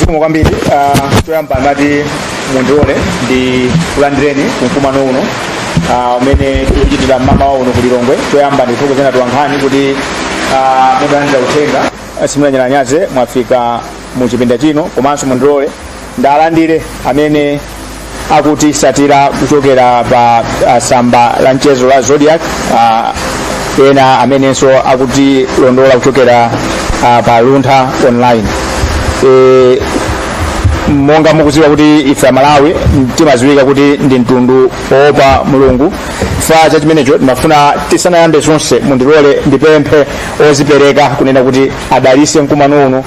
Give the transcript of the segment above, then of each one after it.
zikomo kwambiri uh, choyamba ngati mundilole ndikulandireni kumkumano uno ah, umene uh, tikuchitira mmawa uno kulilongwe choyamba ndikuthokozeni atolankhani kuti uh, mutalandira uthenga simunanyalanyaze mwafika mu chipinda chino komanso mundilole ndalandire amene akutisatira kuchokera pa ah, samba la mchezo la zodiak ah, ena amenenso akutilondola kuchokera ah, pa luntha online e, monga mukuziwa kuti ife amalawi timaziwika kuti ndi mtundu oopa mulungu chifukwa cha chimenecho timafuna tisanayambe zonse mundilole ndipemphe ozipereka kunena kuti adalise mkumano uno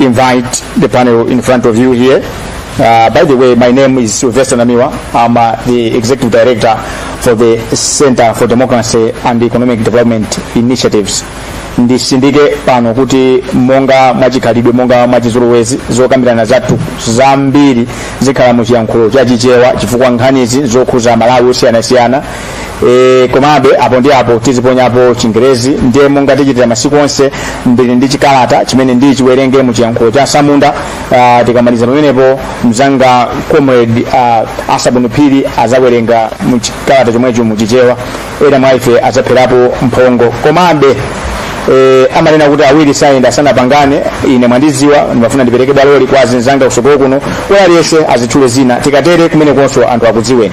invite the panel in front of you here. Uh, by the way, my name is Sylvester Namiwa. I'm uh, the Executive Director for the Center for Democracy and Economic Development Initiatives. ndisindike pano kuti monga mwachikhalidwe monga mwachizolowezi zokambirana zathu zambiri zikhala mu chiyankhulo cha chichewa chifukwa nkhanizi zokhuza amalawi osiyanasiyana e, komabe apo ndi apo tiziponyapo chingerezi ndiye monga tichitira masiku onse ndili ndi chikalata chimene ndichiwerenge mu chiyankhulo cha asamunda uh, tikamaliza pamenepo mzanga comrade uh, asabuni phiri azawerenga mu chikalata chomwecho mu chichewa ena mwa ife azapherapo mphongo komabe eh, amanena kuti awiri sayenda asanapangane ine mwandiziwa ndimafuna ndipereke bwaloli kwa azinzanga kusogolo kuno kuti aliyense azitchule zina tikatere kumenekonso anthu akudziweni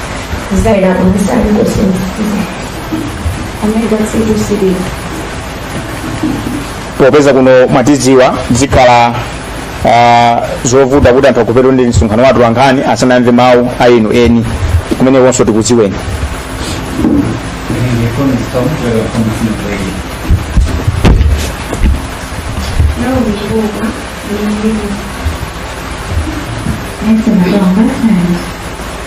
popeza kuno mwatidziwa zikhala ah, zovuta kuti anthu akupetwa ndi msonkhano wa atolankhani asanamve mawu a inu eni kumenekonso tikudziweni Thanks a lot.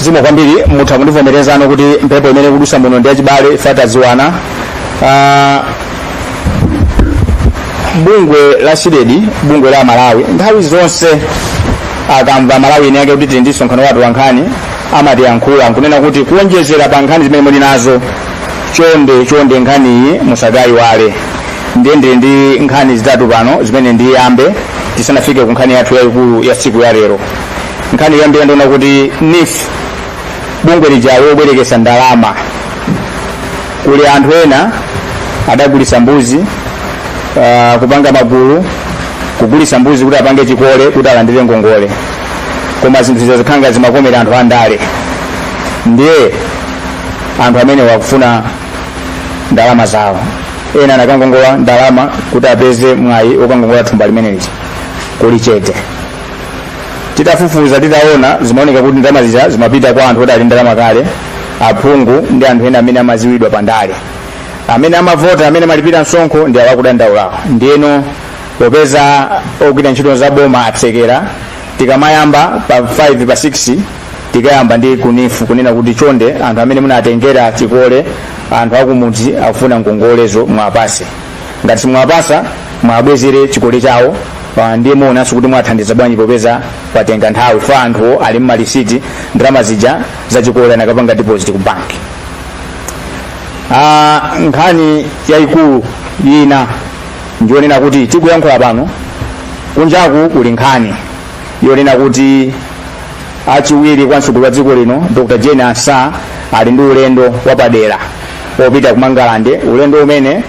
zikomo kwambiri mutha kundivomerezano kuti mphepo imene ikudusa muno ndi yachibale chifukwa tadziwana Ah, bungwe la CDEDI bungwe la amalawi nthawi zonse akamva amalawi eni ake kuti tili ndi msonkhano wa atolankhani amatiyankhula nkunena kuti kuonjezera pa nkhani zimene muli nazo chonde chonde nkhaniyi musakayiwale ndiye ndili ndi nkhani zitatu pano zimene ndiyambe tisanafike ku nkhani yathu yayikulu ya siku ya lero nkhani yoyambira ndi yonena kuti neef bungwe lija lobwerekesa ndalama kuli anthu ena adagulisa mbuzi uh, kupanga magulu kugulisa mbuzi kuti apange chikole kuti alandire ngongole koma zinthu zija zikukhala zimakomera anthu andale ndiye anthu amenewa akufuna ndalama zawo ena anakangongola ndalama kuti apeze mwayi okangongola thumba limeneli kuli chete titafufuza titaona zimaoneka kuti ndalama zija zimapita kwa anthu oti ali ndalama kale aphungu ndi anthu ena amene amaziwidwa pa ndale amene amavota amene malipira msonkho ndi awakudandaulawo ndiyeno popeza ogwira ntchito za boma atsekera tikamayamba pa 5 pa 6 tikayamba ndi ku neef kunena kuti chonde anthu amene munatengera chikole anthu akumudzi akufuna ngongolezo mwapase ngati simwapasa mwabwezere chikole chawo ah, ndiye muonanso kuti mwathandiza bwanji popeza patenga nthawi anthuwo ali ndi malisiti ndalama zija za chikole anakapanga deposit ku banki Ah, nkhani yayikulu ina ndiyonena kuti tikuyankhula pano kunjaku kuli nkhani yonena kuti achiwiri kwa mtsogoleri wa dziko lino dr jane ansah ali ndi ulendo wapadera wopita ku mangalande ulendo umene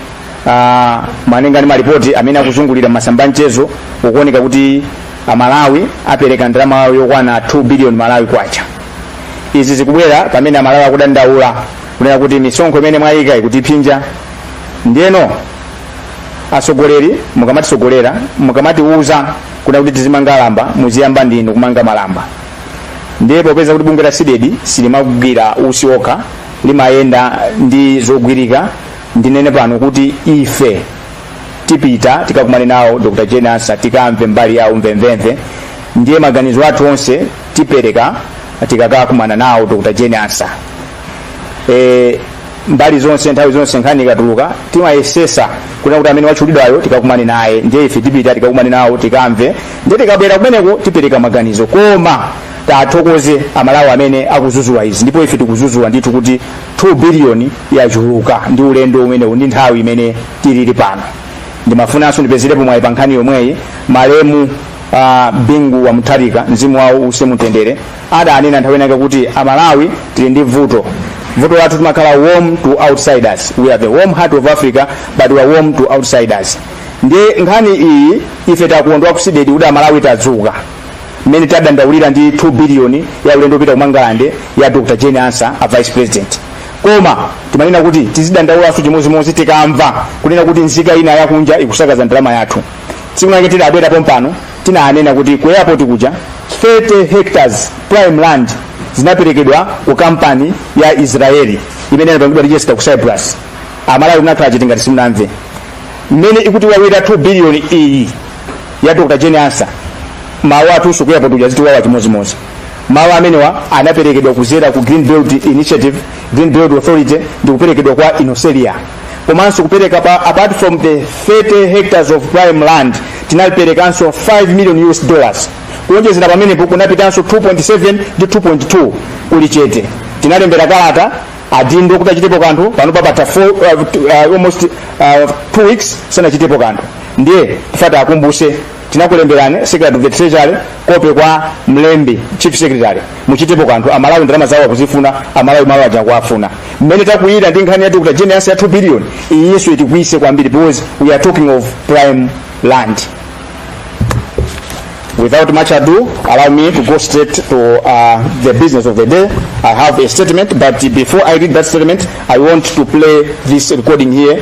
ah, malinga ndi malipoti amene akuzungulira mmasamba a mchezo ukuoneka kuti amalawi apereka ndalama yokwana 2 billion malawi kwacha izi zikubwera pamene amalawi akudandaula kunena kuti misonkho imene mwayika ikutiphinja ndiyeno atsogoleri mukamatisogolela mukamatiuza kunena kuti tizimanga malamba muziyamba ndinu kumanga malamba ndiye popeza kuti bungwe la cdedi silimagwira usi okha limayenda ndi zogwirika ndinene pano kuti ife tipita tikakumane nawo dr jane ansah tikamve mbali yawo mvemvemve ndiye maganizo athu onse tipereka tikakakumana nawo dr jane ansah e, mbali zonse nthawi zonse nkhani ikatuluka timayesesa kunena kuti amene watchulidwayo tikakumane naye ndiye ife tipita tikakumane nawo tikamve ndiye tikabwera kumeneko tipereka maganizo koma tathokoze amalawi amene akuzuzula izi ndipo ife tikuzuzula ndithu kuti 2 biliyoni yachuluka ndi ulendo umenewu ndi nthawi imene tilili pano ndimafunanso ndipezerepo mwayi pa nkhani yomweyi malemu uh, bingu wa mutharika mzimu wawo uuse mumtendere adanena nthawi inake kuti amalawi tili ndi vuto vuto lathu timakhala warm to outsiders we are the warm heart of africa but we are warm to outsiders ndiye nkhani iyi ife takondwa ku CDEDI kuti amalawi tadzuka mmene tadandaulira ndi 2 biliyoni ya ulendo opita kumangalande ya dr jane ansa a vice president koma timanena kuti tizidandaulanso chimodzimodzi tikamva kunena kuti nzika ina yakunja ikusakaza ndalama yathu tsiku lake tidabwera pompano tinanena kuti ku airport kuja 30 hectares prime land zinaperekedwa ku kampani ya israeli imene inapangidwa register ku cyprus amalawi tinakhala chete ngati simunamve mmene ikutiwawira 2 billion iyi ya dr jane ansa malo athunso ku airport kuja zitiwawa chimodzimodzi malo amenewa anaperekedwa kuzera ku green belt initiative green belt authority ndi kuperekedwa kwa Inosselia komanso kupereka apart from the 30 hectares of prime land tinaperekanso 5 million us dollars kuonjezera pamenepo kunapitanso 2.7 ndi 2.2 kuli chete tinalembera kalata adindo kuti achitepo kanthu pano papatha four- uh, two- uh, almost uh, two weeks sanachitepo kanthu ndiye timafuna ti akumbuse tinakulemberani secretary of the treasury kope kwa mlembi chief secretary muchitepo kanthu amalawi ndalama zawo akuzifuna amalawi malo aja akuwafuna mmene takuyira ndi nkhani ya dr jane ansa ya 2 billion iyinso itikwiyitse kwambiri because we are talking of prime land Without much ado, allow me to go straight to uh, the business of the day. I have a statement, but before I read that statement, I want to play this recording here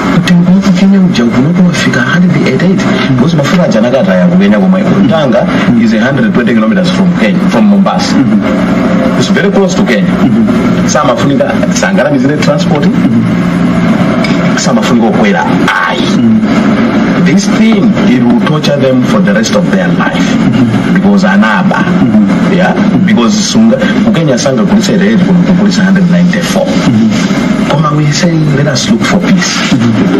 kuti mfine uja kunoto wafika 188 because mafuta aja anakataya kukenya komwe tanga is 120 kilometers from kenya from mombasa it's very close to kenya samafunika sangalamizire transport samafunika okwera ayi this thing it will torture them for the rest of their life because anaba yeah because sunga kukenya sanga kulisa rate kulisa 194 koma we say let us look for peace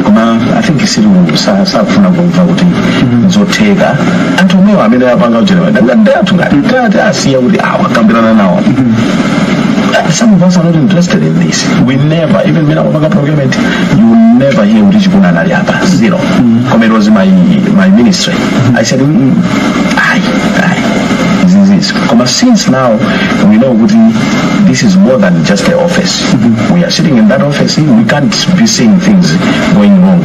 koma i think sakufuna kumva kuti zotheka anthu omwewa amene apanga ujeniwa dangati athu ngati ngati asiya kuti awa kambirana nawo some of us are not interested in this we never even mmene tikupanga procurement you will never hear kuti chikuna anali apa zero koma it was my, my ministry i said mm, ayi ayi izizizi koma since now we know kuti this is more than just the office we are sitting in that office we can't be seeing things going wrong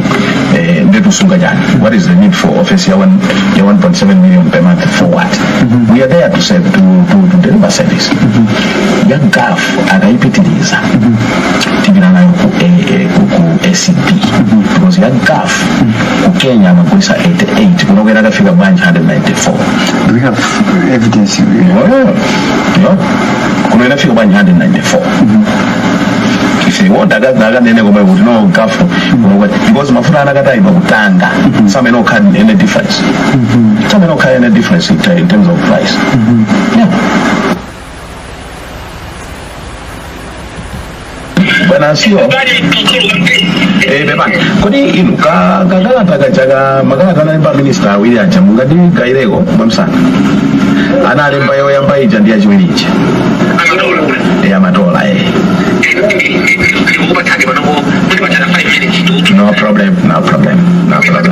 eh, ndekusunga chani what is the need for office ya, one, ya 1.7 million per month for what we are there to, serve, to, to, to deliver service ya gaf akaipitiriza tipita nayo ku, A- eh, ku, ku acb because ya gaf ku kenya amagulisa 88 kunokwera akafika bwanji 194 Do we have evidence? Well, no kuno inafika bwanji 194 if they want akanene komweko kuti no gafu because mafuta anakatayima kutanga samawona any difference samawona any difference in, ter- in terms of price yeah. bwana asiwa eh beba kodi inu ka kakalata kachaka makalata analemba minista awiri aja mungatigaireko mwamsanga analemba yoyamba ija ndi yachiwiri ija eh amatola eh no problem no problem no problem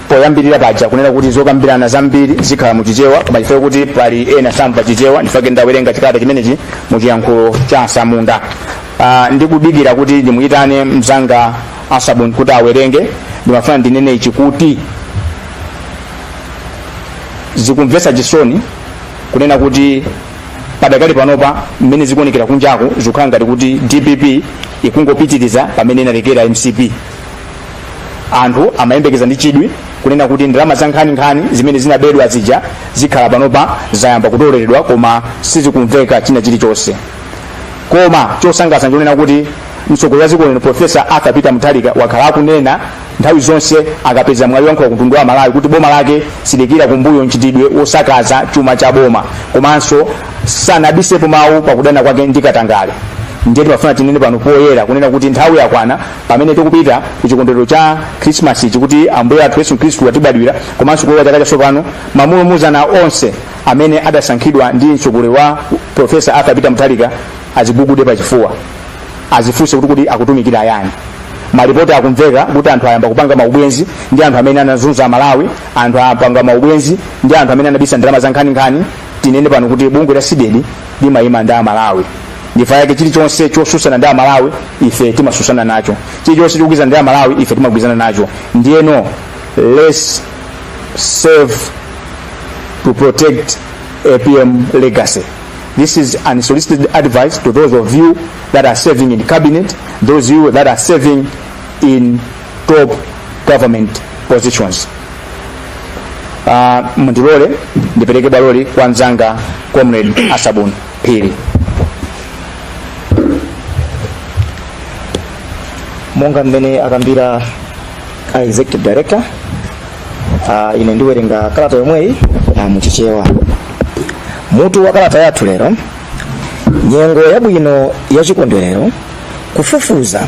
poyambirira paja kunena kuti zokambirana zambiri zikhala mu chichewa koma chifukwa kuti pali ena samva chichewa ndifake ndawerenga chikalata chimenechi mu chiyankhulo cha asamunda uh, ndikudikira kuti ndimuyitane mzanga asabuni kuti awerenge ndimafuna ndinene ichi kuti zikumvesa chisoni kunena kuti padakali panopa mmene zikuonekera kunjaku zikukhala ngati kuti dpp ikungopitiriza pamene inalekera mcp anthu amayembekeza ndi chidwi kunena kuti ndalama za nkhaninkhani zimene zinabedwa zija zikhala panopa zayamba kutoleredwa koma sizikumveka china chilichonse koma chosangalatsa nchonena kuti mtsogoleri wa dziko lino profesa arthur peter mutharika wakhala akunena nthawi zonse akapeza mwayi woyankhula kumtundu wa malawi kuti boma lake siliikira kumbuyo mchitidwe wosakaza chuma cha boma komanso sanabisepo mawu pakudana kwake ndi katangale ndiye timafuna tinene pano poyera kunena kuti nthawi yakwana pamene tikupita ku chikondwerero cha khrisimasi ichi kuti ambuye athu yesu khristu atibadwira komanso kulowa chaka chatsopano mamulumuzana onse amene adasankhidwa ndi mtsogoleri wa profesa arthur peter mutharika azigugude pachifuwa azifunse kuti kuti akutumikira ayani malipoti akumveka kuti anthu ayamba kupanga maubwenzi ndi anthu amene anazunza amalawi anthu apanga maubwenzi ndi anthu amene anabisa ndalama za nkhaninkhani tinene pano kuti bungwe la cdedi limayima ndi amalawi ndifa yake chilichonse chosusana ndi amalawi ife timasusana nacho chilichonse chogwirizana ndi amalawi ife timagwirizana nacho ndiyeno let's serve to protect apm legacy this is unsolicited advice to those of you that are serving in cabinet those of you that are serving in top government positions uh, mundilole ndipereke bwaloli kwa mzanga comrade asabuni phiri monga mmene akambira a executive director uh, ine ndiwerenga kalata yomweyi uh, muchichewa mutu wa kalata yathu lero nyengo yabwino ya chikondwerero kufufuza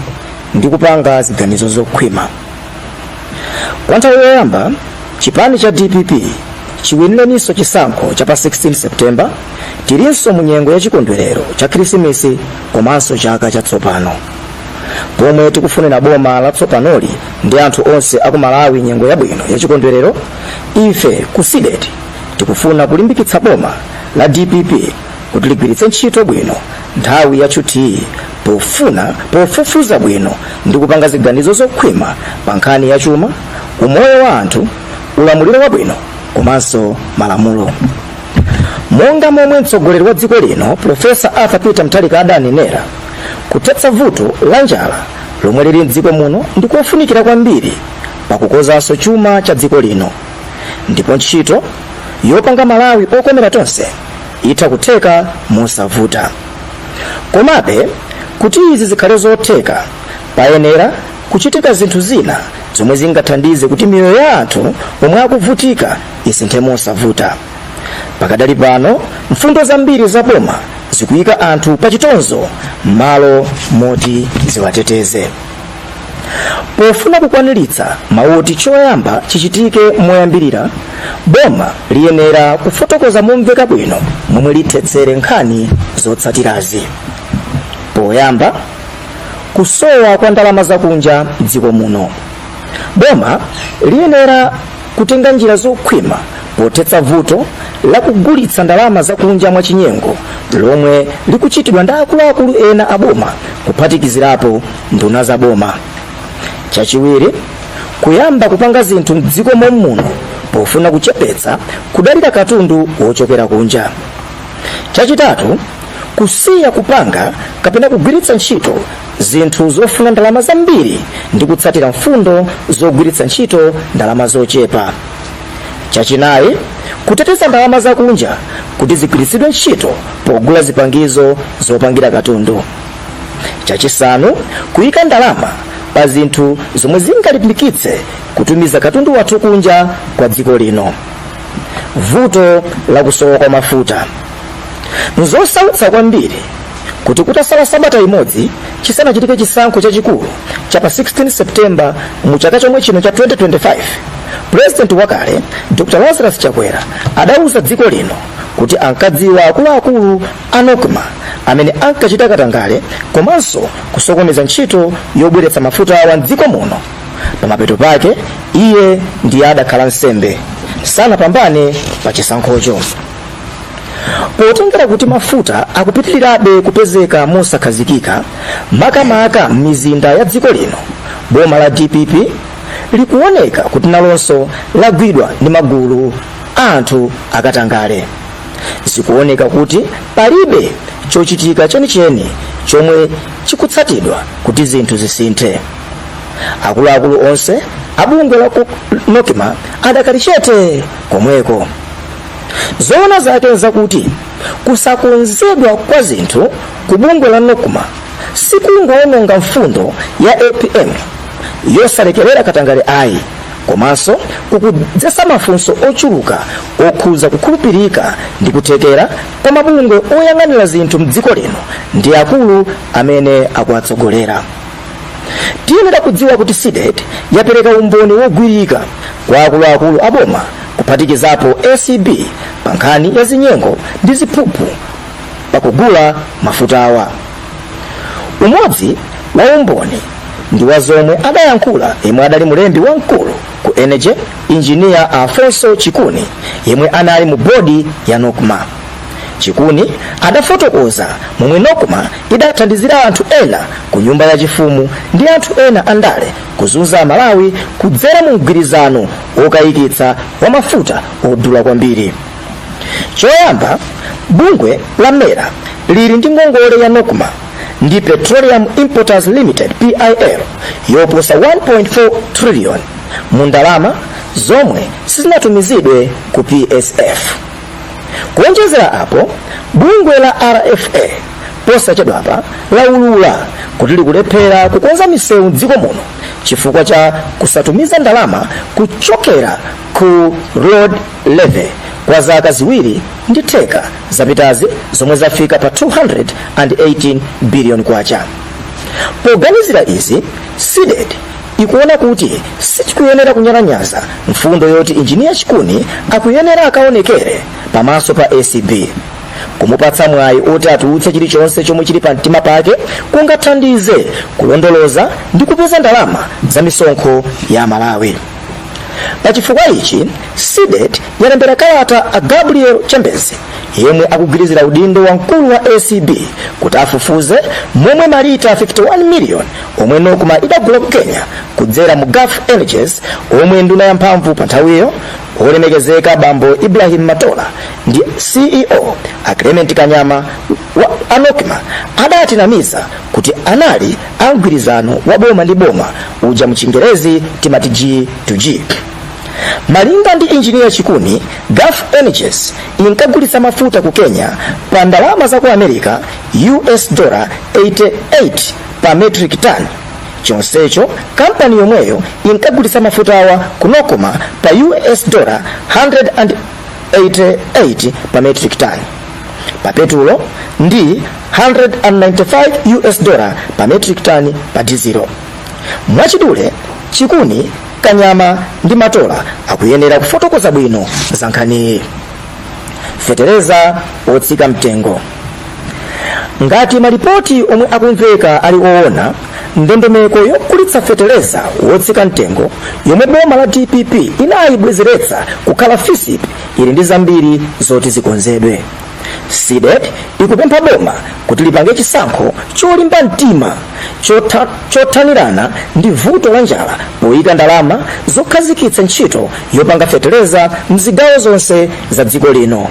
ndi kupanga ziganizo zokhwima kwa nthawi yoyamba chipani cha dpp chiwinireninso chisankho cha pa 16 septemba tilinso mu nyengo ya chikondwerero cha khirisimisi komanso chaka chatsopano pomwe tikufunira boma latsopanoli ndi anthu onse aku malawi nyengo yabwino ya chikondwerero ife ku cdedi tikufuna kulimbikitsa boma la dpp kuti ligwiritse ntchito bwino nthawi ya tchuthiyi pofuna kufufuza bwino ndi kupanga ziganizo zokhwima pa nkhani ya chuma umoyo wa anthu ulamuliro wabwino komanso malamulo monga momwe mtsogoleri wa dziko lino profesa arthur peter mutharika adanenera kuthetsa vuto la njala lomwe lili mdziko muno ndi kofunikira kwambiri pakukonzanso chuma cha dziko lino ndipo ntchito yopanga malawi okomera tonse itha kutheka mosavuta komabe kuti izi zikhale zotheka payenera kuchitika zinthu zina zomwe zingathandize kuti miyoyo ya anthu omwe akuvutika isinthe mosavuta pakadali pano mfundo zambiri za boma zikuyika anthu pa chitonzo m'malo moti ziwateteze pofuna kukwaniritsa mawu oti choyamba chichitike moyambirira boma liyenera kufotokoza momveka bwino momwe lithetsere nkhani zotsatirazi poyamba kusowa kwa ndalama zakunja mdziko muno boma liyenera kutenga njira zokhwima pothetsa vuto la kugulitsa ndalama zakunja mwachinyengo lomwe likuchitidwa ndi akuluakulu ena a boma kuphatikizirapo nduna za boma chachiwiri kuyamba kupanga zinthu mdziko momuno pofuna kuchepetsa kudalira katundu wochokera kunja chachitatu kusiya kupanga kapena kugwiritsa ntchito zinthu zofuna ndalama zambiri ndi kutsatira mfundo zogwiritsa ntchito ndalama zochepa chachinayi kuteteza ndalama zakunja kuti zigwiritsidwe ntchito pogula zipangizo zopangira katundu chachisanu kuyika ndalama pa zinthu zomwe zingalimbikitse kutumiza katundu wathu kunja kwa dziko lino vuto la kusowa kwa mafuta Nzosautsa kwambiri kuti kutasala sabata imodzi chisanachitike chisankho chachikulu cha pa 16 September mu chaka chomwe chino cha 2025, President wakale Dr Lazarus Chakwera adauza dziko lino kuti ankadziwa akuluakulu a Nocma amene ankachita katangale komanso kusokoneza ntchito yobweretsa mafuta awa m'dziko muno. Pamapeto pake iye ndiye adakhala nsembe, sanapambane pa chisankhocho. potengera kuti mafuta akupitirirabe kupezeka mosakhazikika makamaka m'mizinda ya dziko lino boma la dpp likuoneka kuti nalonso lagwidwa ndi magulu a anthu akatangale zikuoneka kuti palibe chochitika chenicheni chomwe chikutsatidwa kuti zinthu zisinthe akuluakulu onse abungwe la nocma adakali chete komweko zoona zake zakuti kusakonzedwa kwa zinthu ku bungwe la nocma sikungowononga mfundo ya apm yosalekerera katangale ayi komanso kukudzetsa mafunso ochuluka okhudza kukhulupirika ndi kuthekera kwa mabungwe oyang'anira zinthu mdziko lino ndi akulu amene akuwatsogolera tiyenera kudziwa kuti cdedi yapereka umboni wogwirika kwa akuluakulu a boma kuphatikizapo acb pa nkhani ya zinyengo ndi ziphuphu pakugula mafutawa umodzi wa umboni ndi wa zomwe adayankhula yemwe adali mlembi wamkulu ku energy injiniya alfonso chikuni yemwe anali mu bodi ya nocma chikuni adafotokoza momwe nocma idathandizira anthu ena ku nyumba ya chifumu ndi anthu ena andale kuzunza amalawi kudzera mu mgwirizano wokayikitsa wa mafuta odula kwambiri choyamba bungwe la mera lili ndi ngongole ya nocma ndi petroleum importers limited pil yoposa 1.4 trillion mu ndalama zomwe sizinatumizidwe ku psf kuonjezera apo bungwe la rfa posachedwapa laulula kuti likulephera kukonza misewu mdziko muno chifukwa cha kusatumiza ndalama kuchokera ku road levy kwa zaka ziwiri ndi theka zapitazi zomwe zafika pa 218 biliyoni kwacha poganizira izi cdedi ikuona kuti sitikuyenera kunyalanyaza mfundo yoti injiniya chikuni akuyenera akaonekere pamaso pa acb kumupatsa mwayi oti atulutse chilichonse chomwe chili pa mtima pake kungathandize kulondoloza ndi kupeza ndalama za misonkho ya amalawi pa chifukwa ichi cdedi yalembera kalata a gabriel chembezi yemwe akugwirizira udindo wa mkulu wa acb kuti afufuze momwe malita 51 miliyoni omwe nocma idagula ku kenya kudzera mu gulf energies omwe nduna ya mphamvu pa nthawiyo olemekezeka bambo ibrahim matola ndi ceo a clement kanyama wa nocma adatinamiza kuti anali a mgwirizano wa boma ndi boma uja mchingerezi timati g to g malinga ndi injiniya chikuni gulf energies inkagulitsa mafuta ku kenya pa ndalama za ku america us dollar 88 pa metric ton chonsecho kampani yomweyo inkagulitsa mafutawa ku nocma pa us dollar 188 pa metric ton pa petulo ndi 195 us dollar pa metric ton pa dizilo mwachidule chikuni kanyama ndi matola akuyenera kufotokoza bwino za nkhaniyi fetereza otsika mtengo ngati malipoti omwe akumveka ali owona ndondomeko yogulitsa fetereza wotsika mtengo yomwe boma la dpp inayibwezeretsa kukhala fisp ili ndi zambiri zoti zikonzedwe cdedi ikupempha boma kuti lipange chisankho cholimba mtima chotha- chothanirana ndi vuto la njala poyika ndalama zokhazikitsa ntchito yopanga fetereza mzigawo zonse za dziko lino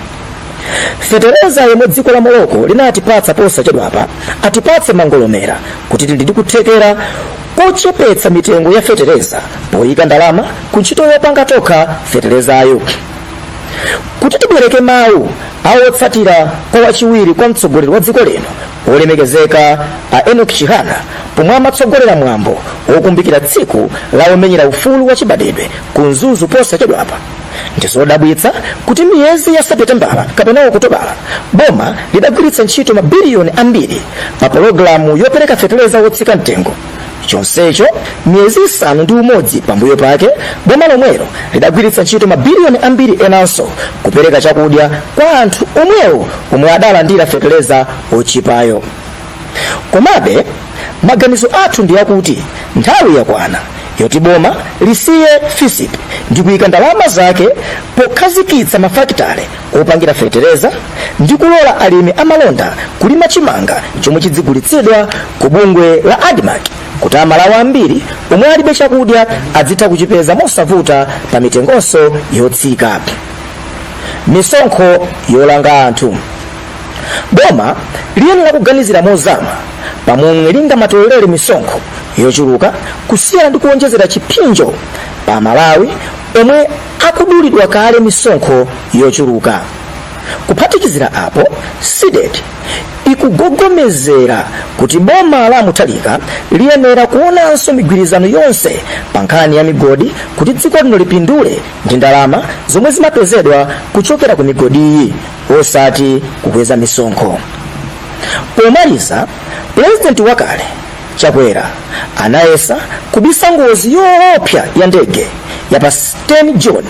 fetereza yomwe dziko la morocco linatipatsa posachedwapa atipatse mangolomera kuti tili ndi kuthekera kochepetsa mitengo ya fetereza poyika ndalama ku ntchito yopanga tokha feterezayo kuti tibwereke mawu a otsatira kwa wachiwiri kwa mtsogoleri wa dziko lino wolemekezeka a enock chihana pomwe amatsogolera mwambo wokumbukira tsiku la omenyera ufulu wa chibadwidwe ku mzuzu posachedwapa ndizodabwitsa kuti miyezi ya seputembala kapena okutobala boma lidagwiritsa ntchito mabiliyoni ambiri pa pologalamu yopereka feteleza wotsika mtengo chonsecho miyezi isanu ndi umodzi pambuyo pake boma lomwelo lidagwiritsa ntchito mabiliyoni ambiri enanso kupereka chakudya kwa anthu omwewo omwe adalandira feteleza otchipayo komabe maganizo athu ndi akuti nthawi yakwana yoti boma lisiye fisp ndi kuyika ndalama zake pokhazikitsa mafakitale opangira fetereza ndi kulola alimi amalonda kulima chimanga chomwe chidzigulitsidwa ku bungwe la admarc kuti amalawi ambiri omwe alibe chakudya adzitha kuchipeza mosavuta pa mitengonso yotsika misonkho yolanga anthu boma liyenera kuganizira mozama pamomwe lingamatolelere misonkho yochuluka kusiyana ndi kuonjezera chipsinjo pa amalawi omwe akudulidwa kale misonkho yochuluka kuphatikizira apo cdedi ikugogomezera kuti boma la mutharika liyenera kuonanso migwirizano yonse pa nkhani ya migodi kuti dziko lino lipindule ndi ndalama zomwe zimapezedwa kuchokera ku migodiyi osati kukweza misonkho pomaliza pulezidenti wakale chakwera anayesa kubisa ngozi yoopsa ya ndege ya pa 10 june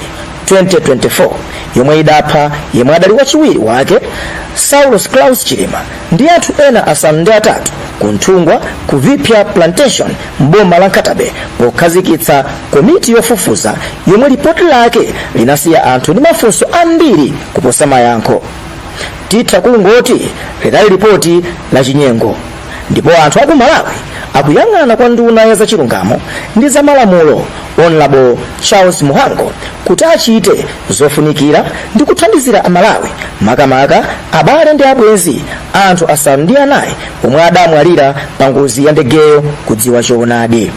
2024 yomwe idapha yemwe adali wachiwiri wake saulos klaus chilima ndi anthu ena asanu ndi atatu ku nthungwa ku viphya plantation m'boma la nkhata bay pokhazikitsa komiti yofufuza yomwe lipoti lake linasiya anthu ndi mafunso ambiri kuposa mayankho titha kungoti lidali lipoti la chinyengo ndipo anthu aku malawi akuyang'ana kwa nduna ya zachilungamo ndi zamalamulo honorable charles mhango kuti achite zofunikira ndi kuthandizira amalawi makamaka abale ndi abwenzi anthu asanu ndi anayi omwe adamwalira pa ngozi ya ndegeyo kudziwa choonadi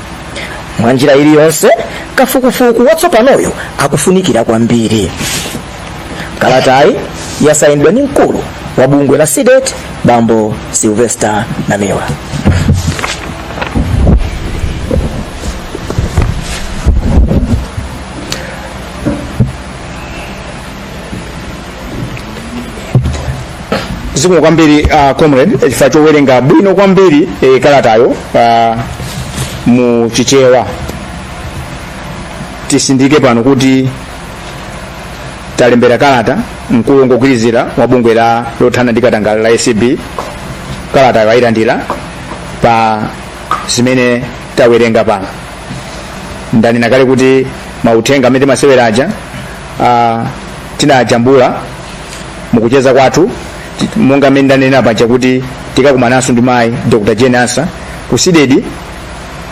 mwa njira iliyonse kafukufuku watsopanoyo akufunikira kwambiri kalatayi yasayinidwa ndi mkulu wa bungwe la cdedi bambo sylvester namiwa zikomo kwambiri uh, comrade eh, chifukwa chowerenga bwino kwambiri eh, kalatayo uh, mu chichewa titsindike pano kuti talembera kalata mkulu wongogwirizira wa bungwe la lothana ndi katangale la acb kalatayo ayilandira pa zimene tawerenga pano ndanena kale kuti mauthenga amene timasewera aja ah, tinajambula mukucheza kwathu ti- monga mmene ndanenera paja kuti tikakumananso ndi mayi dr jane ansah ku cdedi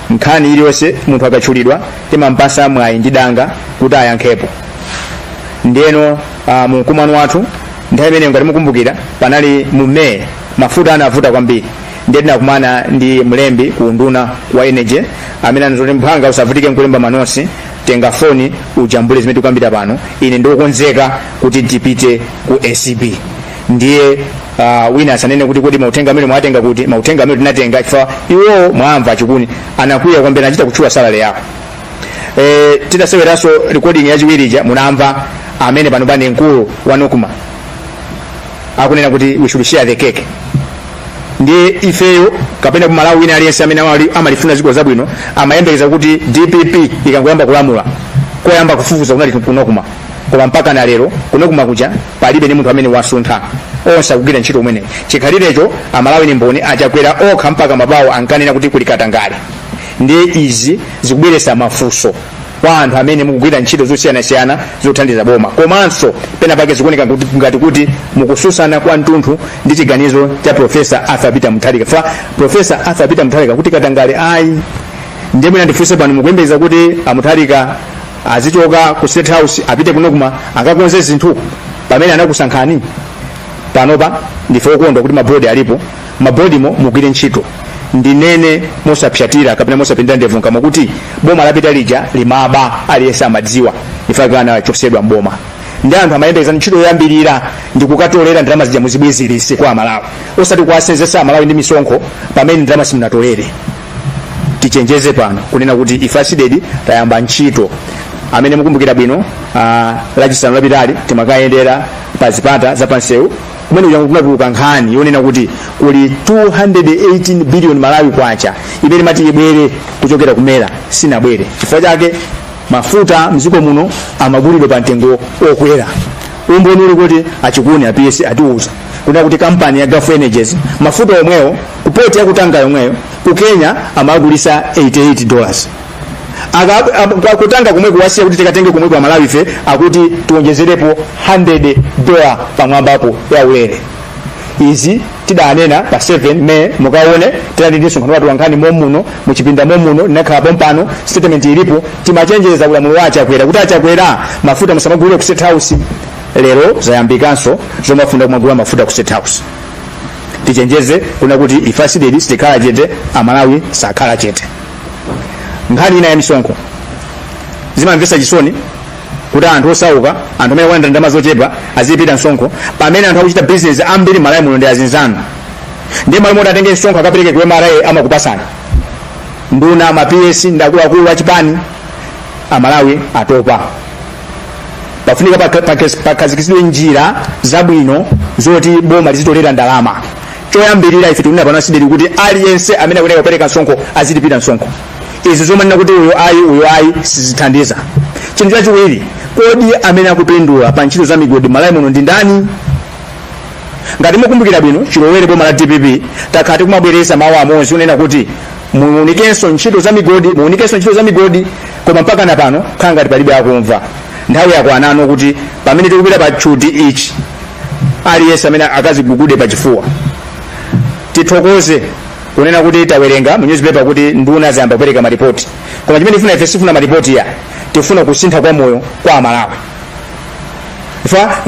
Nkhani iliyonse munthu akatchulidwa timampasa mwayi ndi danga kuti ayankhepo. Ndiyeno uh, mu mkumano wathu nthawi imeneyo ngati mukumbukira panali mu May mafuta anavuta kwambiri ndiye tinakumana ndi mlembi ku unduna wa energy amene anazoti mphwanga usavutike nkulemba manotsi tenga foni ujambule zimene tikukambira pano ine ndi okonzeka kuti tipite ku acb ndiye uh, wina asanene kuti kodi mauthenga amenewo mwatenga kuti mauthenga amene tinatenga chifukwa iwowo mwamva chikuni anakwiya kwambiri anachita kutchula salary yako e, titaseweranso recording yachiwiri ija munamva amene panopa ndi mkulu wa nocma akunena kuti we should share the cake ndiye ifeyo kapena kumalawi wina aliyense amene amali- amalifuna dziko zabwino amayembekeza kuti dpp ikangoyamba kulamula koyamba kufufuza kunali ku nocma koma mpaka na lero ku nocma kuja palibe ndi munthu amene wasuntha onse akugwira ntchito pamene chikhalirecho amalawi ni mboni achakwera okha mpaka mabawo ankanena kuti kuli katangale ndiye izi zikubweretsa mafunso kwa anthu amene mukugwira ntchito zosiyanasiyana zothandiza boma komanso pena pake zikuoneka kuti- ngati kuti mukutsutsana kwa mtunthu ndi chiganizo cha profesa arthur peter mutharika cha profesa arthur peter mutharika kuti katangale ayi ndiye mwina ndifunse pano mukuyembekeza kuti amutharika azichoka ku state house apite ku nocma akakonze zinthu pamene anakusankhani panopa ndife okondwa kuti mabodi alipo mabodimo mugwire ntchito ndinene mosapsatira kapena mosapindira ndevu mkamwa kuti boma lapita lija limaba aliyense amadziwa ifake anachotsedwa mboma ndi anthu amayembekeza ntchito yoyambirira ndi kukatolera ndalama zija muzibwezeretse kwa amalawi osati kuwasenzetsa amalawi ndi misonkho pamene ndalama simunatolere tichenjeze pano kunena kuti ife a cdedi tayamba ntchito amene mukumbukira bwino ah, lachisanu lapitali timakayendera pa zipata za pansewu kumene kuja kunatuluka nkhani yonena kuti kuli 218 billion malawi kwacha imene imati ibwere kuchokera ku mera sinabwere chifukwa chake mafuta mdziko muno amagulidwa pa mtengo okwera umboni uli kuti a chikuni a ps atiuza kuna kuti kampani ya gulf energies mafuta omwewo ku port ya ku tanga yomweyo ku kenya amagulitsa 88 dollars Aka- ab- kwa- ku tanga komweko asiya kuti tikatenge komweko amalawife akuti tiwonjezerepo 100 dola pamwambapo ya ulere izi tidanena pa 7 may mukaone tinali ndi msonkhano wa atolankhani momuno muchipinda momuno ndinakhala pompano statement ilipo timachenjeza ulamuliro wa achakwera kuti achakwera mafuta musamagulire ku state house lero zayambikanso zomafuna kumagula mafuta ku state house tichenjeze kuna kuti ife a cdedi sitikhala chete amalawi sakhala chete nkhani ina ya misonkho zimamvetsa chisoni kuti anthu osauka anthu amene akulandira ndalama zochepa azilipira msonkho pamene anthu akuchita bizinesi ambiri m'malawi muno ndi azinzanu ndiye m'malo moti atenge msonkho akapereke ku mra amakupatsani nduna ma ps ndi akuluakulu a chipani amalawi atopa pafunika paka- paka- pakhazikitsidwe njira zabwino zoti boma lizitolera ndalama choyambirira ife tikunena pano a cdedi kuti aliyense amene akuyenera kupereka msonkho azilipira msonkho izi zomanena kuti uyu ayi uyu ayi sizithandiza chinthu chachiwiri kodi amene akupindula pa ntchito za migodi m'malawi muno ndi ndani ngati mukumbukira bwino chilowere boma la dpp takhala tikumabwereza mawu amodzi onena kuti muunikenso ntchito za migodi muunikenso ntchito za migodi koma mpaka na pano khala ngati palibe akumva nthawi yakwanano kuti pamene tikupita pa tchuti ichi aliyense amene akadzigugude pa chifuwa tithokoze kunena kuti tawerenga mu newspaper kuti nduna zayamba kupereka maripoti koma chimene tifuna ife sifuna maripoti ayi tifuna kusintha kwa moyo kwa amalawi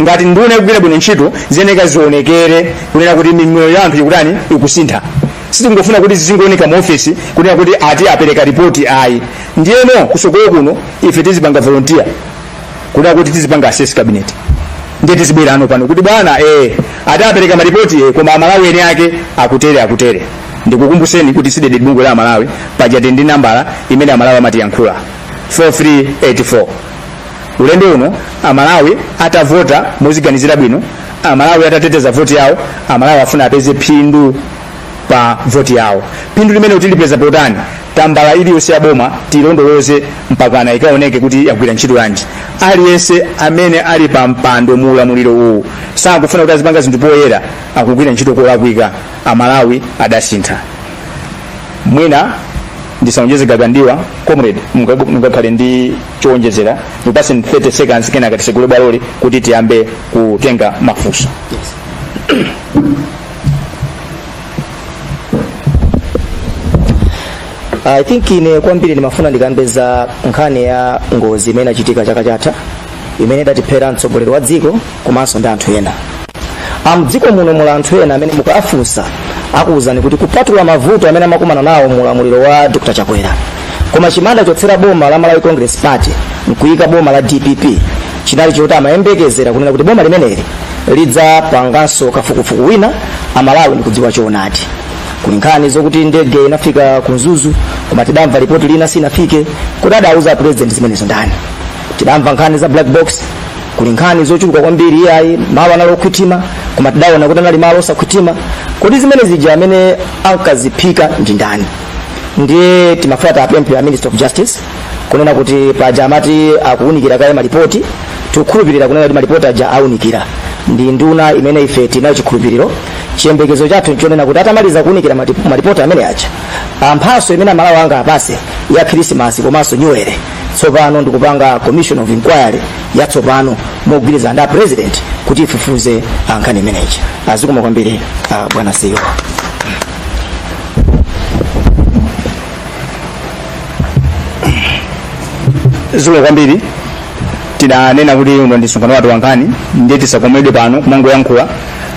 ngati nduna ikugwira bwino ntchito ziyenera zionekere kunena kuti mimoyo ya anthu ikutani ikusintha sitingofuna kuti zizingooneka mu ofesi kunena kuti ati apereka ripoti ayi ndiyeno kutsogolo kuno ife tizipanga volunteer kunena kuti tizipanga assess cabinet ndiye tizibwera pano pano kuti bwana eh ati apereka maripoti eh koma amalawi eni ake akutere akutere ndikukumbuseni kuti CDEDI ndi bungwe la amalawi pajatu ndi nambala imene amalawi amatiyankhula 4384 ulendo uno amalawi atavota moziganizira bwino amalawi atateteza voti yawo amalawi afuna apeze phindu pa voti yawo phindu limeneli tilipeza potani tambala iliyonse ya boma tilondoloze mpakana ikaoneke kuti yagwira ntchito yanji aliyense amene ali pa mpando mu ulamuliro uwu sakufuna kuti azipanga zinthu poyera akugwira ntchito kolakwika amalawi adasintha mwina ndisaonjeze nkagandiwa comrade munga- mungakhale ndi choonjezera ndikupatseni 30 seconds kenaka titsekule bwaloli kuti tiyambe kutenga mafunso I think ine kwambiri ndimafuna ndikambe za nkhani ya ngozi imene inachitika chaka chatha imene idatiphera mtsogoleri wa dziko komanso ndi anthu ena amdziko muno muli anthu ena amene mukawafunsa akuwuzani kuti kupatula mavuto amene amakumana nawo mu ulamuliro wa dr chakwera koma chimene adachotsera boma la malawi congress party nkuyika boma la dpp chinali choti amayembekezera kunena kuti boma limeneli lidzapanganso kafukufuku wina amalawi nkudziwa choonadi kuli nkhani zokuti ndege inafika ku mzuzu koma tidamva lipoti lina sinafike kodi adauza president zimenezo ndani tidamva nkhani za black box kuli nkhani zochuluka kwambiri iyayi malo anali owitilira koma tidaona kuti anali malo osawitilira kodi zimene zija amene ankaziphika ndi ndani ndiye timafuna tiwapemphe a minister of justice kunena kuti paja amati akuwunikira kaye malipoti tikukhulupirira kunena kuti malipoti aja awunikira ndi nduna imene ife tinayo chikhulupiriro chiyembekezo chathu nchonena kuti atamaliza kuwunikira mati- malipoti amene aja mphatso imene amalawi angawapatse ya khirisimasi komanso nyuwere tsopano ndikupanga commission of inquiry yatsopano mogwirizana ndi a president kuti ifufuze nkhani imeneyi zikomo kwambiri ah, bwana CEO zikomo kwambiri tinanena kuti uno ndi msonkhano wathu wankhani ndiye tisakomedwe pano kumangoyankhula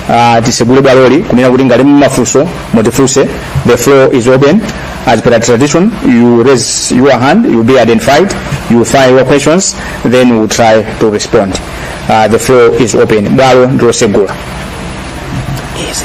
uh, tisegule bwaloli kunena kuti ngati muli mafunso mutifunse the floor is open as per tradition you raise your hand you be identified you file your questions then we try to respond uh, the floor is open bwalo ndilosegula yes,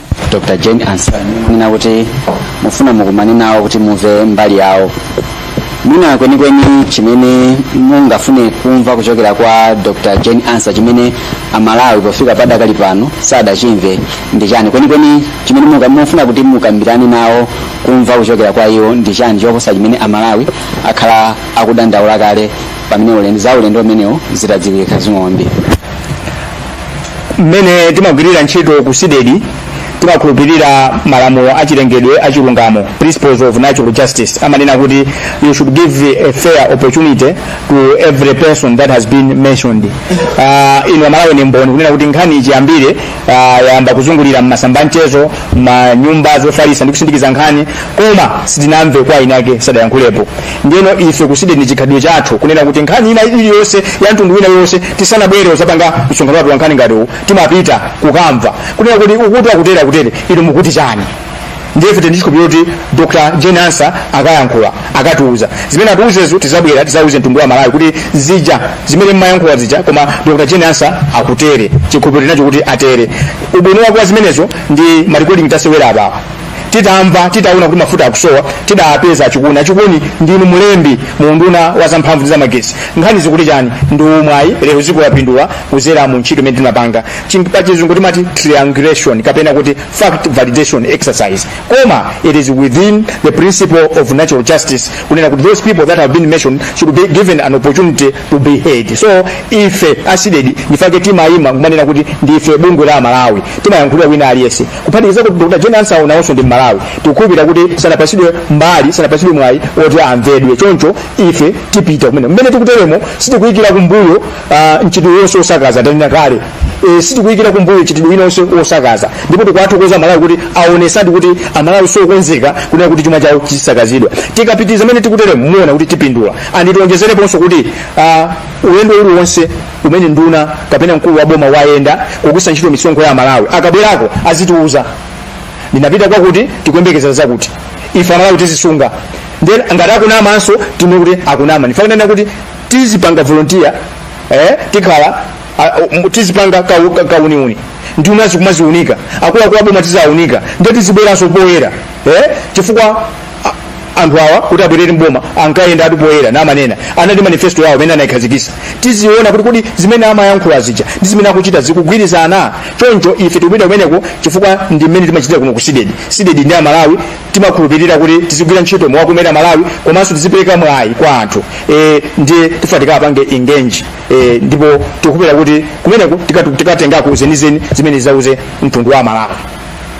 dr jane ansa munena kuti mufuna mukumane nawo kuti mumve mbali yawo mwina kwenikweni chimene mungafune kumva kuchokera kwa dr jane ansa chimene amalawi pofika padakali pano sadachimve ndi chani kwenikweni chimene munga- mufuna kuti mukambirane nawo kumva kuchokera kwa iwo ndi chani choposa chimene amalawi akhala akudandaula kale pamene ulendo za ulendo umenewu zitadziwika zing'ombe mmene timagwirira ntchito ku sidedi timakhulupirira malamulo achilengedwe achilungamo principles of natural justice amanena kuti you should give a fair opportunity to every person that has been mentioned uh, inu amalawi ndi mboni kunena kuti nkhani ichiyambire uh, yayamba kuzungulira mmasamba mchezo mmanyumba zofalitsa ndi kusindikiza nkhani koma sitinamve kwa eniake sadayankhulepo ndiyeno ife ku sidedi ndi chikhalidwe chathu kunena kuti nkhani ina iliyonse ya mtundu wina uliwonse tisanabwere kuzapanga msonkhano wathu wa nkhani ngati uwu timapita kukamva kunena kuti uku akutere akutere inu mukuti chani ndiye ife tili ndi chikhulupiriro kuti dr jane ansa akayankhula akatiuza zimene atiuzezo tizabwera tizauze mtundu wa malawi kuti zija zimene mmayankhula zija koma dr jane ansa akutere chikhulupiriro tinacho kuti atere ubwino wake wa zimenezo ndi marekoding tasewera apawa titamva titaona kuti mafuta akusowa tidapeza achikuni achikuni ndinu mulembi mu unduna wa zamphamvu ndi zamagesi nkhani zikuti chani ndi umwayi lero dziko lapindula kudzera mu ntchito imene timapanga Chi- pa chizungu timati triangulation kapena kuti fact validation exercise koma it is within the principle of natural justice kunena kuti those people that have been mentioned should be given an opportunity to be heard so ife asidedi ndi chifukwa chake timayima kumanena kuti ndife bungwe la amalawi timayankhulira wina aliyense kuphatikiza kuti dr jane ansa nawonso ndi mmalawi tikukhulupirira kuti sanapatsidwe mbali sanapatsidwe mwayi oti amvedwe choncho ife tipita kumene mmene tikuteremo sitikuyikira kumbuyo ah, mchitidwe uliwonse wosakaza tanena kale e, sitikuyikira kumbuyo mchitidwe wina uliwonse wosakaza ndipo tikuwathokoza amalawi kuti aonetsadi kuti amalawi sokonzeka kunena kuti chuma chawo chisakazidwe tikapitiriza mmene tikuteremo muona kuti tipindula and tionjezereponso kuti ah, ulendo uliwonse kumene nduna kapena mkulu wa boma wayenda kugwiritsa ntchito misonkho ya amalawi akabwerako azitiuza ndinapita kwakuti tikuyembekezera zakuti ife amalawi tizisunga then ngati akunamanso tinene kuti akunama tifunika kuti tizipanga volunteer eh, tikhala ah, um, tizipanga kau- ka- kauniuni nduna zikumaziunika akuluakulu aboma tiziwaunika nde tizibweranso poyera eh, chifukwa anthu awa kuti abwerere mboma ankayenda pa poyera nkumanena anali ndi manifesto yawo imene anayikhazikisa tiziona kuti kodi zimene amayankhula zija ndi zimene akuchita zikugwirizana choncho ife tikupita kumeneko chifukwa ndi mmene timachitira kuno ku sidedi sidedi ndi amalawi timakhulupirira kuti tizigwira ntchito mokomera amalawi komanso tizipereka mwayi kwa anthu e, ndiye tifunika tikawapange engage e, ndipo tikukhulupirira kuti kumeneko tikatu- tikatengako zenizeni zimene tizauze mtundu wa amalawi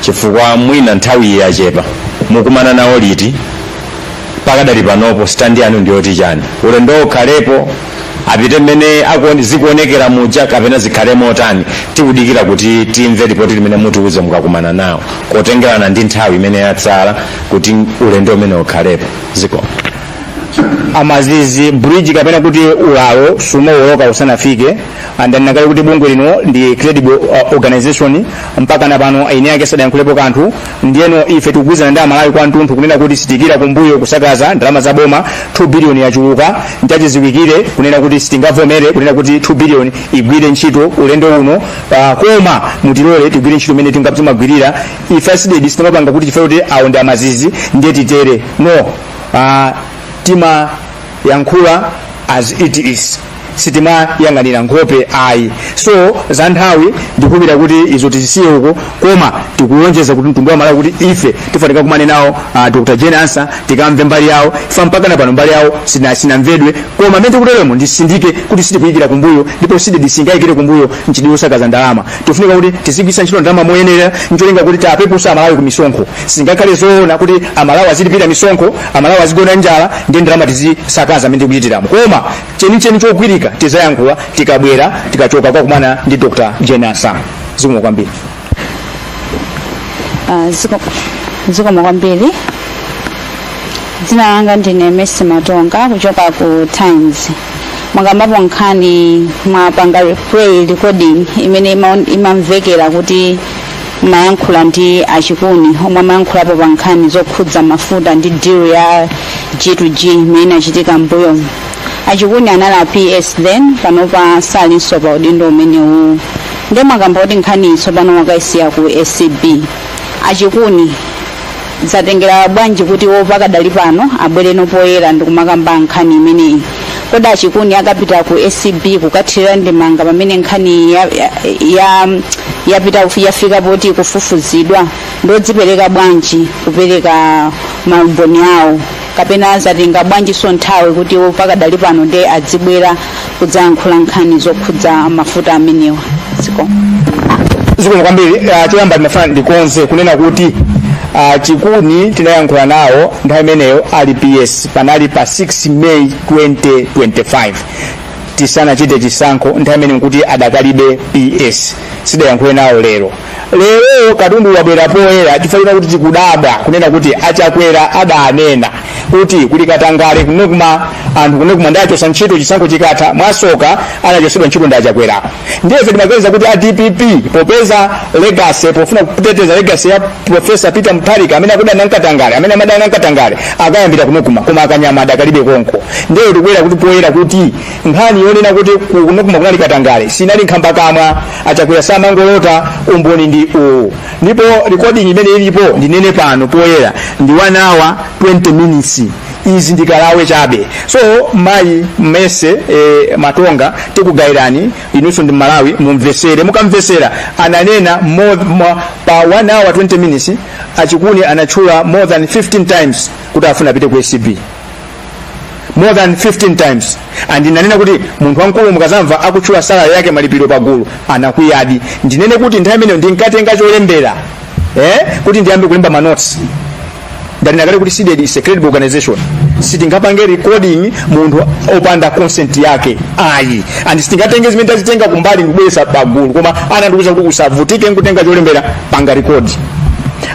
chifukwa mwina nthawiyi yachepa mukumana nawo liti pakadali panopo stand yanu ndiyoti chani ulendo ukhalepo apite mmene akuone- zikuonekera muja kapena zikhale motani tikudikira kuti timve lipoti limene mutiuze mukakumana nawo kotengerana ndi nthawi imene yatsala kuti ulendo umenewu ukhalepo zikomo mazizi bridge kapena kuti ulalo sumawoloka usanafike ndanena kale kuti bungwe lino ndi credible uh, organization mpaka na pano eni ake sadayankhulepo kanthu ndiyeno ife tikugwirizana ndi amalawi kwathunthu kunena kuti sitiyikira kumbuyo kusakaza ndalama za boma 2 billion yachuluka nchachiziwikire kunena kuti sitingavomere kunena kuti 2 billion igwire ntchito ulendo uno uh, koma mutilole tigwire ntchito imene tinga- timagwirira ife a sidedi sitimapanga kuti chifukwa kuti awo ndi amazizi ndiye titere no uh, timayankhula as it is sitimayang'anira nkhope ayi so za nthawi ndikukhulupirira kuti izo tizisiye uko koma tikulonjeza ku mtundu wa malawi kuti ife tifunika tikumane nawo uh, dr jane ansah tikamve mbali yawo chifukwa mpaka na pano mbali yawo sina- sinamvedwe koma mmene tikuteremo nditsindike kuti sitikuyikira kumbuyo ndipo sitingayikire kumbuyo mchitidwe osakaza ndalama tifunika kuti tizigwisa ntchito ndalama moyenera ncholinga kuti tiwapepuze amalawi ku misonkho sizingakhale zoona kuti amalawi azilipira misonkho amalawi azigona njala ndi ndalama tizisakaza mmene tikuchitiramo koma chenicheni chogwirika tizayankhula tikabwera tikachoka kukakumana ndi dr jane ansah zikomo kwambiri Ah, ziko- zikomo kwambiri dzina langa ndine mercy matonga kuchoka ku times mwakambapo nkhani mwapanga replay recording imene imaon- imamvekera kuti mumayankhula ndi achikuni omwe amayankhulapo pa nkhani zokhudza mafuta ndi deal ya g to g imene inachitika mbuyomu achikuni anali a ps then panopa salinso pa udindo umenewu nde mwakamba kuti nkhaniyi tsopano mwakaisiya ku acb achikuni zatengera bwanji kuti iwo pakadali pano abwereno poyera ndikumakamba nkhani imeneyi kodi achikuni akapita ku acb kukathirira ndemanga pamene nkhani ya, ya, ya, yapita kufi- yafika poti kufufuzidwa ndodzipereka bwanji kupereka maumboni awo kapena zatenga bwanjinso nthawi kuti iwo pakadali pano ndi adzibwera kudzayankhula nkhani zokhudza mafuta amenewa zikomo zikomo kwambiri uh, choyamba ndimafuna ndikonze kunena kuti uh, chikuni tinayankhula nawo nthawi imeneyo ali ps panali pa 6 may 2025 tisanachite chisankho nthawi imene nkuti adakalibe ps sitidayankhule nawo lero lero katundu wabwera poyera chifukwa chonena kuti tikudabwa kunena kuti achakwera adanena kuti kuli katangale ku nocma anthu ku nocma ndiwachosa ntchito chisankho chikatha mwasoka anachosedwa ntchito ndi achakwerawo ndiye ife timaganiza kuti a dpp popeza legacy pofuna kuteteza legacy ya profesa peter mutharika amene akudana nkatangale amene amadana nkatangale akayambira ku nocma koma akanyama adakalibe konko ndiye tikubwera kuti poyera kuti nkhani yonena kuti ku- ku nocma kunali katangale sinali nkhambakamwa achakwera samangolota umboni ndi uwu ndipo recording imene ilipo ndinene pano poyera ndi 1 hour 20 minutes izi ndi kalawe chabe so mayi mercy e, matonga tikugayirani inunso ndi amalawi mumvesere mukamvesera ananena more, more, pa 1 hour 20 minutes achikuni anatchula more than 15 times kuti afuna apite ku acb more than 15 times and ananena kuti munthu wamkulu mukazamva akutchula salary yake malipiro pagulu anakwiyadi ndinene kuti nthawi imeneyo ndinkatenga cholembera eh, kuti ndiyambe kulemba manotsi ndanena kale kuti cdedi is a credible organization sitingapange recording munthu opanda consent yake ayi and sitingatenge zimene tazitenga kumbali ndikubweresa pagulu koma anandiuza kuti usavutike nkutenga cholembera panga record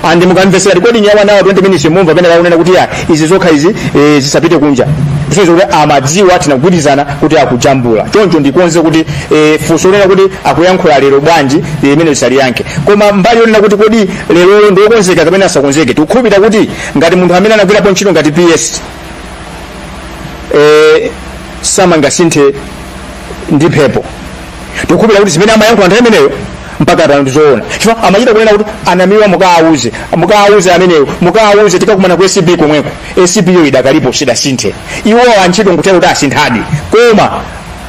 and mukamvesera recording ya 1 hour 20 minutes mumva pena akunena kuti ya izi zokha izi eh, zisapite kunja kusonyeza kuti amadziwa tinagwirizana kuti akujambula choncho ndikonze kuti eh, funso lonena kuti akuyankhula lero bwanji eh, limenelo ndisaliyankhe koma mbali yonena kuti kodi lerolo ndi okonzeka kapena asakonzeke tikukhulupirira kuti ngati munthu amene anagwirapo ntchito ngati ps eh, sangasinthe ndi mphepo tikukhulupirira kuti zimene amayankhula nthawi imeneyo mpaka pano ndizoona chifukwa amachita kunena kuti anamiwa mukaawuze mukaawuze ameneyo mukaawuze tikakumana ku acb komweko acb yo idakalipo sidasinthe iwowa ntchito nkutheka kuti asinthadi koma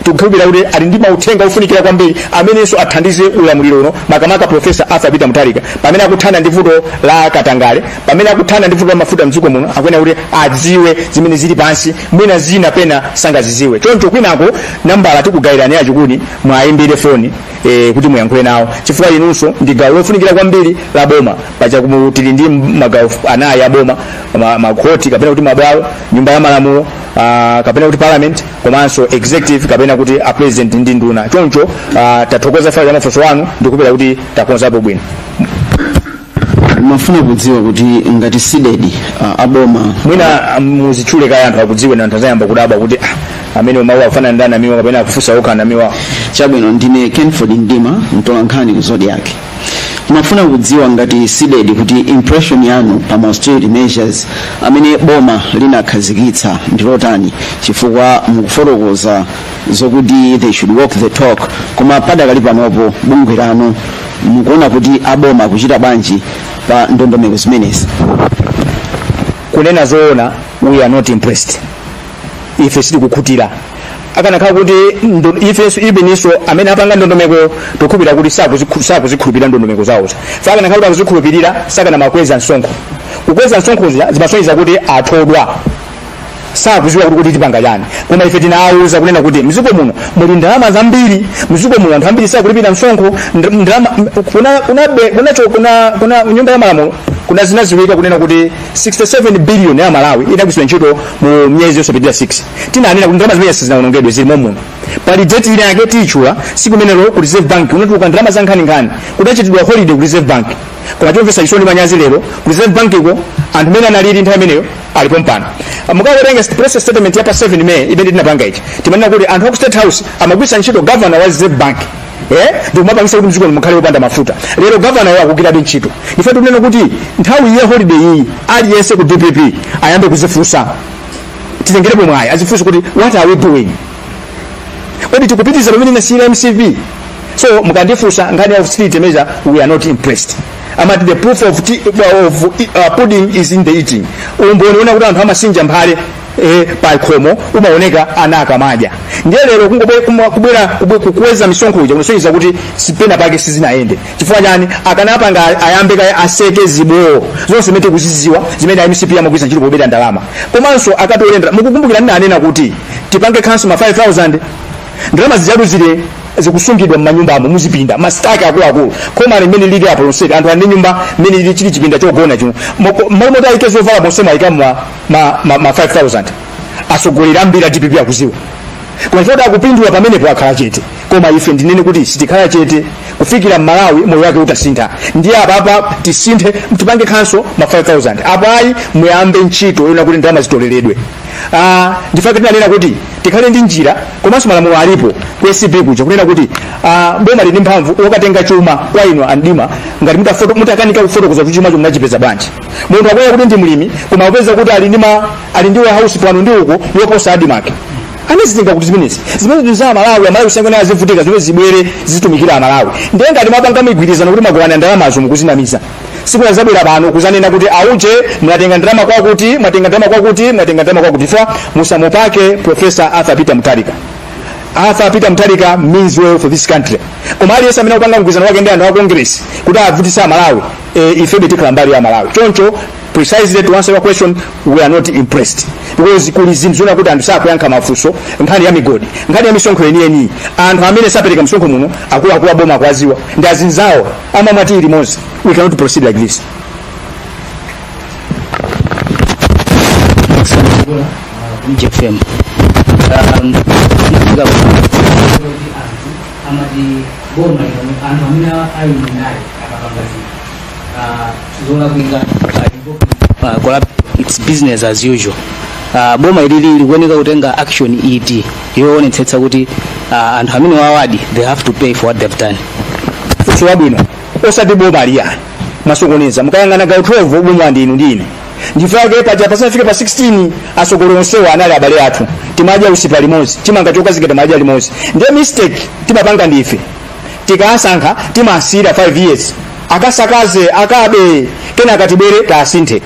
tikukhulupirira kuti ali ndi mauthenga ofunikira kwambiri amenenso athandize ulamuliro uno makamaka profesa arthur peter mutharika pamene akuthana ndi vuto la katangale pamene akuthana ndi vuto la mafuta mdziko muno akuyenera kuti adziwe zimene zili pansi mwina zina pena sangazidziwe choncho kwinako nambala tikugayirani yachokuti mwayimbire foni eh, kuti muyankhule nawo chifukwa inunso ndi gawo lofunikira kwambiri la boma pachakuti tili ndi magawo anayi a boma ma- makhoti kapena kuti mabwalo nyumba ya malamulo Uh, kapena kuti parliament komanso executive kapena kuti a president ndi nduna choncho uh, tathokoza fa cha mafunso anu ndikhulupirira kuti takonzapo bwino ndimafuna kudziwa kuti ngati cdedi uh, aboma mwina muzitchule kaye anthu akudziwe nanga anthu azayamba kudabwa kuti ah, amene umawu akufunsa ndani amiwa kapena akufunsa okha namiwa chabwino ndine kenford ndima mtolankhani ku zodiak Ndimafuna kudziwa ngati Cdedi kuti impression yanu pa ma austerity measures amene boma linakhazikitsa ndi yotani chifukwa mukufotokoza zokuti they should walk the talk koma padakali panopo bungwe lanu mukuona kuti aboma akuchita bwanji pa ndondomeko zimenezi. kunena zoona we are not impressed ife sitikukhutira akanakhala kuti ndo- ifenso iwo eninso amene apanga ndondomeko tikukhulupirira kuti sakuzikhu- sakuzikhulupirira ndondomeko zawozo fa akanakhala kuti akuzikhulupirira sakanamakweza msonkho kukweza msonkho zija zimasonyeza kuti athedwa sakuziwa kuti kuti tipanga chani koma ife tinawauza kunena kuti mziko muno muli ndalama zambiri mziko muno anthu ambiri sakulipira msonkho nd- ndalama m- kuna kuna be- kuna cho- kuna kuna nyumba ya malamulo kuna zinaziwika kunena kuti 67 billion ya malawi inagwiritsidwa ntchito mu myezi yosapitirira 6 tinanena kuti ndalama zimene sizinawonongedwe zili momuno pali deti ina yake tiyitchula siku limenelo ku reserve bank kunatuluka ndalama za nkhaninkhani kudachitidwa holiday ku reserve bank koma chomvetsa chisoni manyazi lero ku reserve bank iko anthu amene analili nthawi imeneyo alipo mpano mukawerenga press statement ya pa 7 may imene tinapanga ichi timanena kuti anthu aku state house amagwiritsa ntchito governor wa reserve bank eh ndikumapangisa kuti mdziko mukhale opanda mafuta lero gavanayo akugwirabe ntchito ife tikunena kuti nthawi ya holiday iyi aliyense ku dpp ayambe kuzifunsa titengerepo mwayi azifunse kuti what are we doing kodi tikupitiriza pamene inasiyira mcp so mukandifunsa nkhani ya austerity measure we are not impressed amati the proof of, tea, of uh, pudding is in the eating umboni wonena kuti anthu amasinja mphale e, pa khomo umaoneka ana akamadya ndiye lero kungobe- kuma- kubwera kubwe- kukweza misonkho uja kunasonyeza kuti penapake sizinayende chifukwa chani akanapanga a- ayambe kaye aseke zibowo zonse zimene tikuziziwa zimene a mcp amagwiritsa ntchito pobera ndalama komanso akatole ndalama mukukumbukira ndinanena kuti tipange cancel ma 5000 ndalama zijatu zile zikusungidwa mmanyumbamo muzipinda masitaki akuluakulu koma limene liripo lonseli anthu ali ndi nyumba mmene lili chili chipinda chogona chino Moko- mmalo moti ayike zovala monse mwayika mwa ma, ma, ma 5000 atsogoleri ambiri a dpp akuziwa koma choti akupindula pamenepo akhala chete koma ife ndinene kuti sitikhala chete kufikira mmalawi moyo wake utasintha ndiye apapa tisinthe tipange khanso ma 5000 apo ayi muyambe ntchito yona kuti ndalama zitoleredwe Ah, ndifake tinanena kuti tikhale ndi njira komanso malamulo alipo ku acb kuja kunena kuti ah, boma lili ndi mphamvu lokatenga chuma kwa inu andima ngati mutafoto- mutakanika kufotokoza kuti chuma chomwe munachipeza bwanji munthu akunena kuti ndi mlimi koma akupeza kuti ali ndi ma ali ndi warehouse pano ndi uko yoposa admarc anazizinga kuti zimenezi zimene ndi za amalawi amalawi kusiyana azivutika zimene zibwere zitumikira amalawi ndiye ngati mapanga migwirizano kuti mugawana ndalamazo mukuzinamiza sikunazabwera pano kuzanena kuti auje mwatenga ndalama kwakuti mwatenga ndalama kwakuti mwatenga ndalama kwakuti fa musamupake professor arthur peter mutharika arthur peter mutharika means well for this country koma aliyense amene akupanga mgwirizano wake ndi anthu a congress kuti avutitse amalawi e, ife betikhala mbali ya malawi choncho precisely to answer your question we are not impressed because kuli zinthu zona kuti anthu sakuyankha mafunso nkhani ya migodi nkhani ya misonkho yeniyeniyi anthu amene sapereka misonkho muno akuluakulu aboma akuwadziwa ndi azinzawo amamwa tea limodzi we cannot proceed like this mjfm um, amati boma lino anthu amene ali mundale akapanga zinthu ah, zolakwika ah, collab- its business as usual Ah, boma ili likuoneka kutenga action iti yoonetsetsa kuti ah, anthu amene awadi they have to pay for what they've done So wabwino osati boma liyani mwasokoneza mukayang'ana gawo 12 boma ndinu ndine ndifake paja pasanafike pa 16 asogolo onsewa anali abale athu timadya usipa limodzi chimanga chokazinga timadya limodzi ndiye mistake timapanga ndife tikasankha timasiyira 5 years akasakaze akabe akatibere tasinthe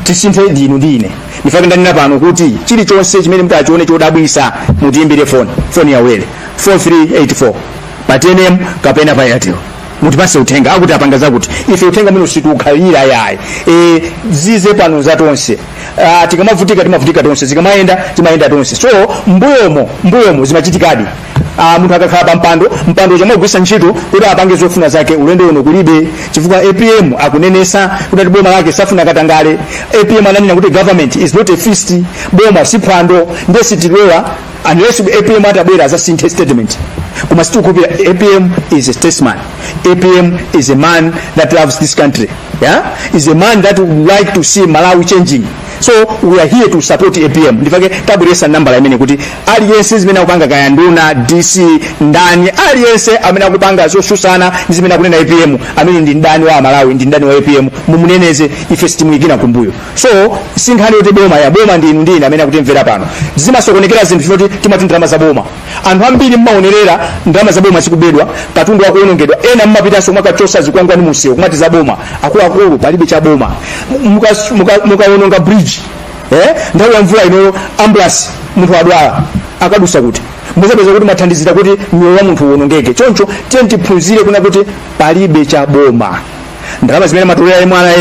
tisinthe ndinu ndine ndifake ndanena pano kuti chilichonse chimene mutachione chodabwisa mutiimbire foni foni yaulere 4384 pa tnm kapena pa airtel mutipase uthenga akuti apanga zakuti ife uthenga umene usitiukhalira yayi e, zize pano za tonse Ah, tikamavutika timavutika tonse zikamayenda timayenda tonse so mbuyomo mbuyomo zimachitikadi Ah, munthu akakhala pa mpando mpandocho amagwisa ntchito kuti apange zofuna zake ulendo uno kulibe chifukwa apm akunenesa kuti ati boma lake safuna katangale apm ananena kuti government is not a feast boma si phwando nde sitilola unless apm atabwera azasinthe statement koma sitikukhulupira apm is a statesman apm is a man that loves this country yeah? he's a man that would like to see malawi changing so we are here to support apm ndifake tabweresa nambala imene kuti aliyense zimene akupanga kaya nduna dc ndani aliyense amene akupanga zosusana ndi zimene akunena apm amene ndi ndani wa malawi ndi ndani wa apm mumuneneze ife sitimuyikira kumbuyo so sinkhani yoti boma ya boma ndi inu ndi ine amene akutimvera pano zimasokonekera zinthu zoti timati ndalama za boma anthu ambiri mmaonerera ndalama za boma zikubedwa katundu wakuonongedwa ena mumapitanso kukachosa zikwangwani mumsewu kumati za boma akuluakulu palibe cha boma Mukas- muka- mukaononga bridge eh? nthawi ya mvula inoyo ambulance munthu adwala akadusa kuti muzapeza kuti mwathandizira kuti moyo wa munthu uonongeke choncho tiyeni tiphunzire kunena kuti palibe cha boma ndalama zimene amatolera MRA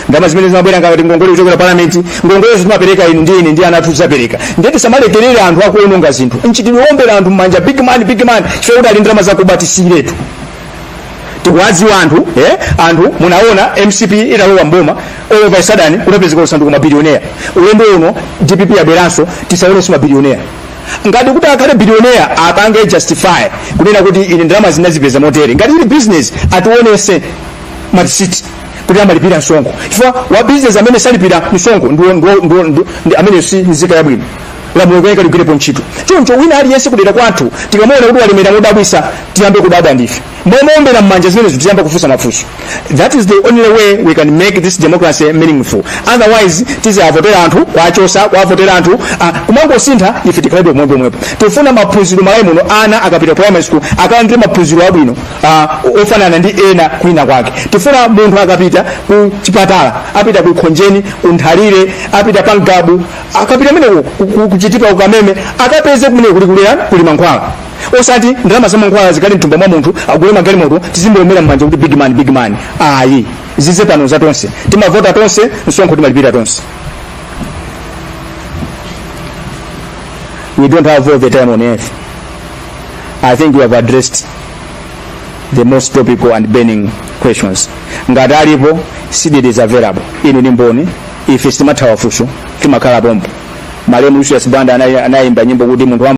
ndalama zimene zimabwera ngati ngongole kuchokera palamenti ngongolezo timapereka inu ndi ine ndi ana athu tidzapereka ndiye tisamalekerere anthu akuononga zinthu mchitidwe owombera anthu mmanja big man big man chifukwa kuti ali ndi ndalama zakuba tisiyiretu tikuwadziwa anthu eh? anthu munaona mcp italowa mboma all of a sudden kunapezeka asanduka mabilionea ulendo uno dpp yabweranso tisaonenso mabilionea ngati kuti akhale billionaire apange justify kunena kuti ine ndalama ndinazipeza motere ngati ili business atiwonese malisiti kuti amalipira msonkho chifukwa wa business amene salipira msonkho ndiwo- ndiwo- ndiwo- ndiwo- ndi- amene si nzika yabwino lamulo likuyenera ligwirepo ntchito choncho wina aliyense kudera kwathu tikamuona kuti walemera modabwisa tiyambe kudabwa ndife momuombera mmanja zimenezo tiyambe kufunsa mafunso that is the only way we can make this democracy meaningful otherwise tiziavotera anthu kuwachosa kuavotera anthu ah, kumangosintha ife tikhalebe pomwepo pomwepo tifuna maphunziro m'malawi muno ana akapita primary school akalandire maphunziro abwino ah, ofanana ndi ena kwina kwake tifuna munthu akapita ku chipatala apita ku khonjeni ku nthalire apita pa ngabu akapita meneko kuchitipa ku kameme akapeze kumene kuli kulera kuli mankhwala osati ndalama za mankhwala zikhale mthumba mwa munthu agule magalimoto tizimuombera mmanja kuti big man big man ayi zithe pano za tonse timavota tonse msonkho timalipira tonse we don't have all the time on earth i think we have addressed the most topical and burning questions ngati alipo cdedi is available inu ni mboni ife sitimathawa funso timakhala pompo malemu lucius banda anayimba nyimbo kuti munthu wa